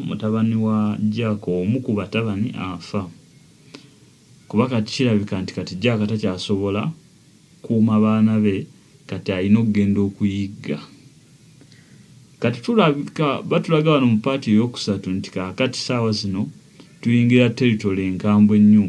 mutabani wa Jack omu ku batabani afa kuba kati kirabika nti kati Jack takyasobola kuuma baana be kati alina okugenda okuyigga. Kati tulabika batulaga wano mu paati ey'okusatu nti kaakati saawa zino tuyingira teritole enkambwe ennyo.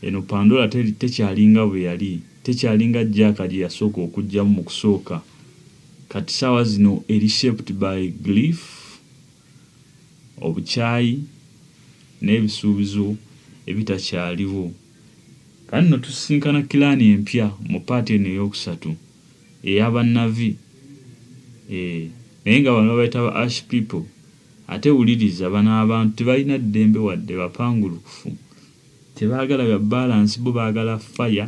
Eno Pandora tekyalinga bwe yali, tekyalinga Jack gye yasooka okuggyamu mu kusooka. Kati saawa zino eri shaped by grief. obukyayi n'ebisuubizo ebitakyaliwo. Kati nno tusisinkana kilaani empya mu paati eno eyookusatu eya bannavi. Eeh, naye nga bano babayita ba Ash People. Ate wuliriza, bano abantu tebalina ddembe wadde, bapangulukufu. Tebaagala bya bbaalansi, bo baagala fire.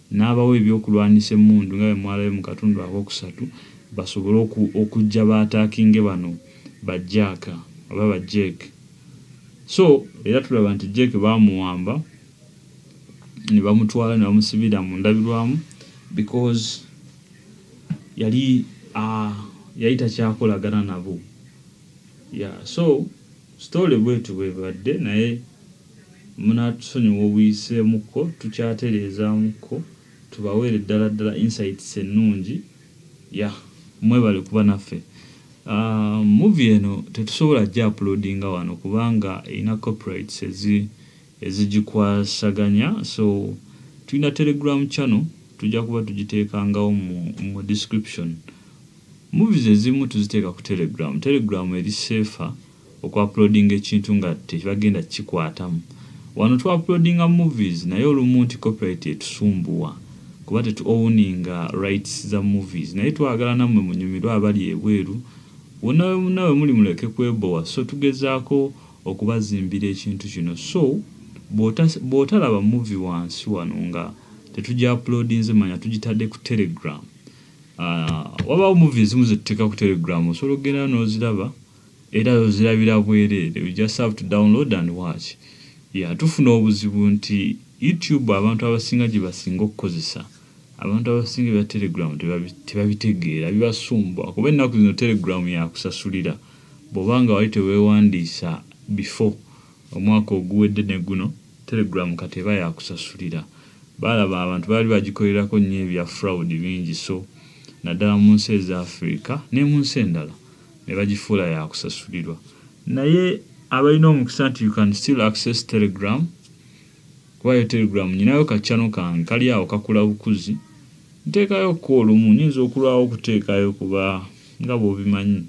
n'abawa ebyokulwanyisa emmundu nga bwe mwalabye mu katundu akookusatu basobole okujja baataakinge bano ba Jack oba ba Jeck so era tulaba nti Jeck baamuwamba ne bamutwala ne bamusibira mu ndabirwamu because yali yali takyakolagana nabo yeah so story bwetyo bwebadde naye Munaatusonyiwa obuyiseemukko, tukyatereezaamukko, tubaweere ddala ddala insights ennungi. Yah mwebale kuba naffe. Aah movie eno tetusobola gya uploadinga wano kubanga erina copyrights ezi ezigikwasaganya so tulina telegram channel tujja kuba tugiteekangawo mu mu description. Movies ezimu tuziteeka ku telegram, telegram eri safer. oku uploadinga ekintu nga tebagenda kikwatamu wano tu uploadinga movies naye olumu nti copyright etusumbuwa kuba tetu owuninga rights za movies naye twagala namwe munyumirwe abali ebweru wonna wemuna wemuli muleke kwebowa so tugezaako okubazimbira ekintu kino so bwota bwotalaba movie wansi wano nga tetuja uploadinze manya tugitadde ku telegram aah wabaawo movie ezimu zetuteka ku telegram osobola okugenda yo noziraba Era ozirabira bwerere u just have to download and watch yeah tufuna obuzibu nti u tube abantu abasinga gyebasinga okukozesa abantu abasinga ebya telegram tebabitegeera bibasumbuwa kuba ennaku zino telegram yakusasulira bwoba nga wali tewewandiisa before omwaka oguwedde ne guno telegram kati eba yakusasulira balaba abantu baali bagikolerako nnyo ebya fraud bingi so naddala munsi eza Africa nemunsi endala ne bagifuula ya kusasulirwa naye abalina omukisa nti you can still access telegram kuba yo telegram nyinayo ka channel kange kali awo kakula bukuzi nteekayo ko olumu nyinza okulwawo okuteekayo kuba nga bwobimanyi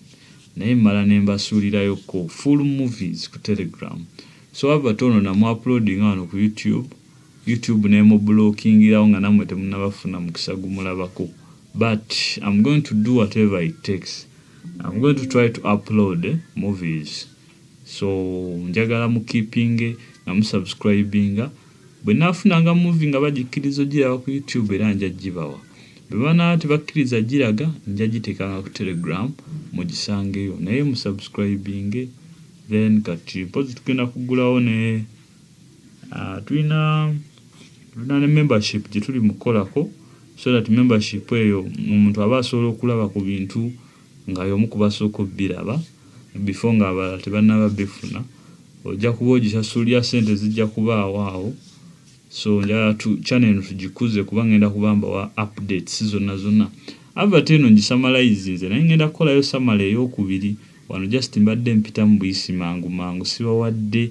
naye mmala ne mbasuulirayo ko full movies ku telegram so wabba toono namu uploading wano ku youtube YouTube nemubulookingirawo nga namwe temunaba funa mukisa gumulabako but am going to do whatever it takes am going to try to upload movies so njagala mu keepinge nga mu subscribinga bwenafunanga movie nga bagikkiriza ogiraba ku YouTube era nja gibawa bwebanaba tebakkiriza giraga nja giteekanga ku telegram mugisangeyo naye mu subscribinge then kati mpozi tugenda kugulawo ne Ah, tulina tulina ne membership gye tuli mu kukolako so that membership eyo omuntu aba asobola okulaba ku bintu nga y'omu ku basooka obbiraba bifo ng'abalala tebannaba bifuna ojja kuba ogisasulira ssente zijja kubaawo awo so njala tu channel eno tugikuze kuba ngenda kuba mbawa updates zonna zonna avert eno ngisamalayizi nze naye ngenda kukolayo samala ey'okubiri wano just mbadde mpitamu buyisi mangu mangu sibawadde